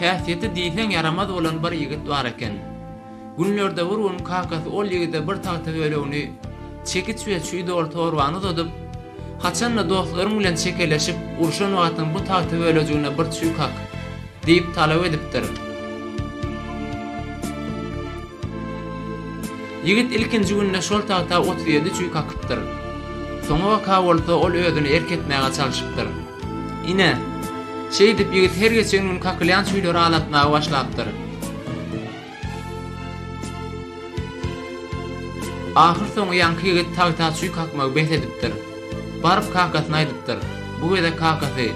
Häsiýeti diýseň ýaramaz bolan bir ýigit bar eken. Günlerde bir gün kakasy ol ýigide bir tagta bölegini, çekiç we çüý doly torbany uzadyp, Haçan-da dostlaryň bilen çekeleşip, urşan wagtyň bu tagta bölejigine bir çüý kak. Diýip talap edipdir. Ýigit ilkinji günde şol tagta otuz ýedi çüý kakypdyr. Soňabaka bolsa ol özüni erk etmäge çalşypdyr. Ine, şeýdip ýigit her geçen gün kakylýan çüýleri alatmaga başlapdyr. Ahyrsoňy ýaňky ýigit tagta çüý kakmagy bes edipdir. Baryp kakasyna aýdypdyr. Bu gezek kakasy,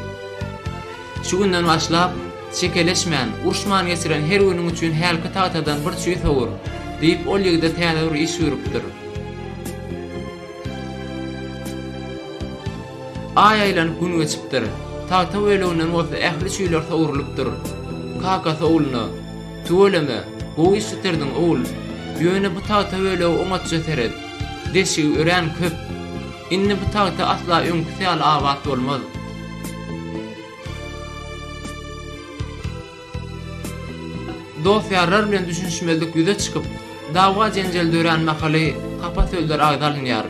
Şu günden başlap, çekeleşmän, urşman geçiren her günüň üçin hälki tagtadan bir çüý sowur, diýip, ol ýigide täze bir iş buýrupdyr. Aý aýlanyp gün geçipdir. Tagta böleginden bolsa ähli çüýler sowrulypdyr. Kakasy ogluna. Tüweleme, gowy iş bitirdiň, ogul. Ýöne bu tagta bölegi oňatja seret. Deşigi örän köp. Indi bu tagta asla öňküsi ýaly abat bolmaz. Dost-ýarlar bilen düşünişmezlik ýüze çykyp, dawa-jenjel dörän mahaly hapa sözler agza alynýar.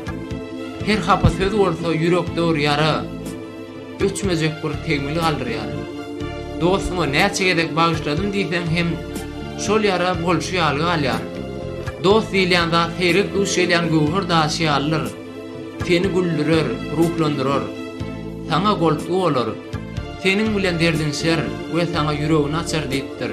Her hapa söz bolsa ýürekde ur ýara. Öçmejek bir tegmil galdyrýaryn. Dostuňa näçe gezek bagyşladym diýseň hem şol ýara bolşy ýaly galýar. Dost diýilýän zat seýrek duş gelýän göwher daşy ýalydyr. Seni güldürer, ruhlandyrar. Saňa goltgy bolar. Seniň bilen derdinşer we saňa ýüregini açar diýipdir.